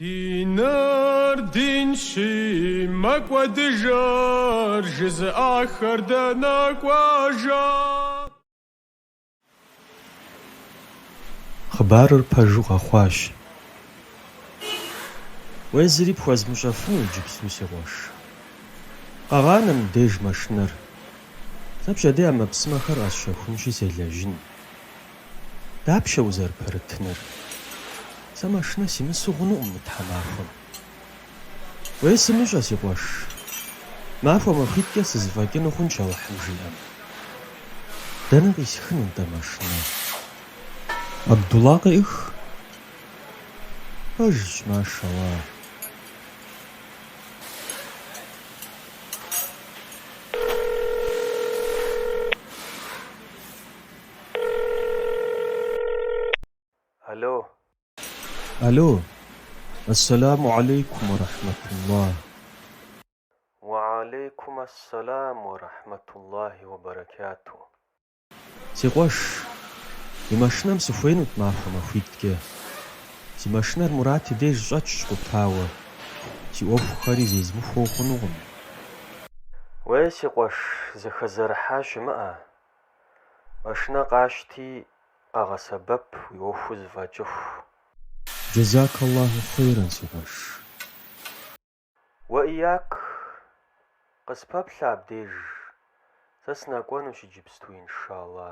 Диныр динщи, мэкӏуэдыжыр жызыӏахэр дэнэ кӏуэжа? Хъыбарыр пэжу къэхъуащ. Уей зыри пхуэзмыщӏэфыну иджыпсту, си къуэш. Къэгъанэ мыбдеж машинэр. Сэ пщэдей ӏэмэпсымэхэр къэсщэхунщи селэжьын. Дапщэ узэрыпэрытыныр? Сэ машинэ симысу хъунукъым мы тхьэмахуэм. Уей, сымыщӏэ, си къуэш. Махуэ-махуитӏкӏэ сызэфӏэкӏыну хъунщ Алыхьым жиӏэм. Дэнэ къисхын нтӏэ машинэр? Абдулла къеӏых. Пэжщ, машалла. Алло. Алло, ассаламу алейкум ва рахматуллахь. Ва алейкум ассалам ва рахматуллахи ва баракату. Си къуэш, уи машинэм сыхуейнут махуэ-махуитӏкӏэ. Си машинэр Мурат и деж щӏэтщ къутауэ, си ӏуэхухэри зезмыхуэу хъунукъым. Уей, си къуэш, зэхэзэрыхьа щымыӏэ, Машинэ къащти, къэгъэсэбэп, уи ӏуэхур зэфӏэкӏыху. Джэзак Аллаху хъейрэ, си къуэш. Уэ ияк, къыспэплъэ абдеж, сэ сынэкӏуэнущ иджыпсту, иншалла.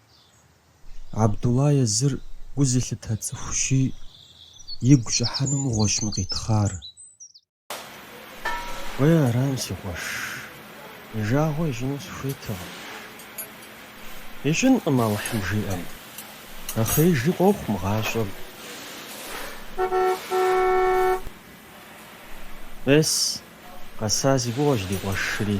Абдулла езыр гу зылъытэ цӏыхущи, игу щӏыхьэну мыгъуэщ мы къитхъар. Уей арам, си къуэш, и жагъуэ ищӏыну сыхуейтэкъым. Ищӏынкъым Алыхьым жиӏэм, нэхъеижи къохъу мы гъащӏэм. Ес, къэса си гугъэщ ди къуэшри.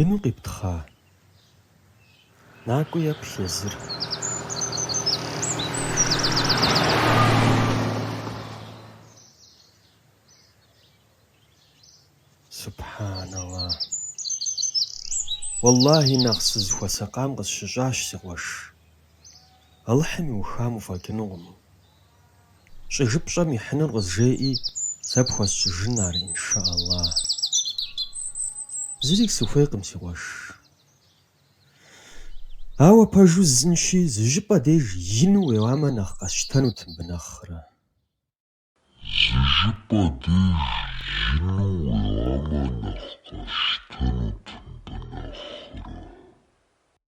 Ину къиптхъа? Накӏуи еплъ езыр. Субхьан Алла! Уэллахьи, нэхъ сызыхуэсакъам къысщыщӏащ, си къуэш. Алыхьым иухам уфӏэкӏынукъым, Щӏыжыпщӏэм ихьынур къызжеӏи, сэ пхуэсщӏыжын ар иншаллахь. Зыри сыхуейкъым, си къуэш. Ауэ пэжу жысӏэнщи, зы щӏыпӏэ деж ину уеуамэ нэхъ къэсщтэнут мыбы нэхърэ. Зы щӏыпӏэ деж ину уеуамэ нэхъ къэсщтэнут мыбы нэхърэ.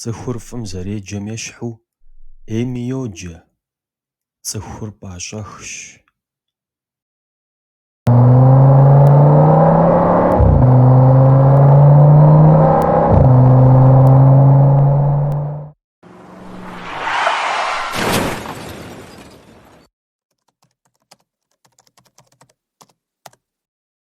Цӏыхур фӏым зэреджэм ещхьу ӏейми йоджэ, цӏыхур пӏащӏэхщ.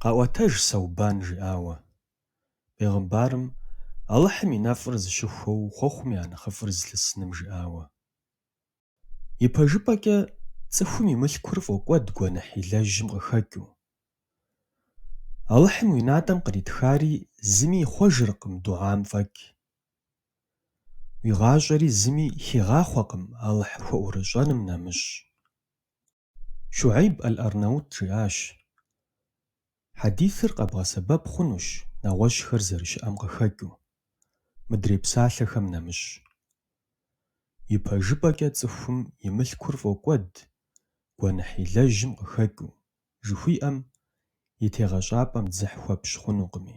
Къаӏуэтэж Сэубан жиӏауэ. Бегъымбарым Алыхьым и нэфӏыр зыщыхуэу хъуэхъум я нэхъыфӏыр зылъысыным жиӏауэ. Ипэжыпӏэкӏэ цӏыхум и мылъкур фӏокӏуэд гуэныхь илэжьым къыхэкӏыу. Алыхьым уи натӏэм къритхари зыми ихъуэжыркъым дугьам фӏэкӏ. Уи гъащӏэри зыми хигъахъуэкъым Алыхь хуэӏурыщӏэным нэмыщӏ. Щугьейб ӏэл-Арнаут жиӏащ, Хьэдисыр къэбгъэсэбэп хъунущ нэгъуэщӏхэр зэрыщыӏэм къыхэкӏыу, мыдрей псалъэхэм нэмыщӏ. Ипэжыпӏэкӏэ цӏыхум и мылъкур фӏокӏуэд гуэныхь илэжьым къыхэкӏыу, жыхуиӏэм и тегъэщӏапӏэм дзыхь хуэпщӏ хъунукъыми.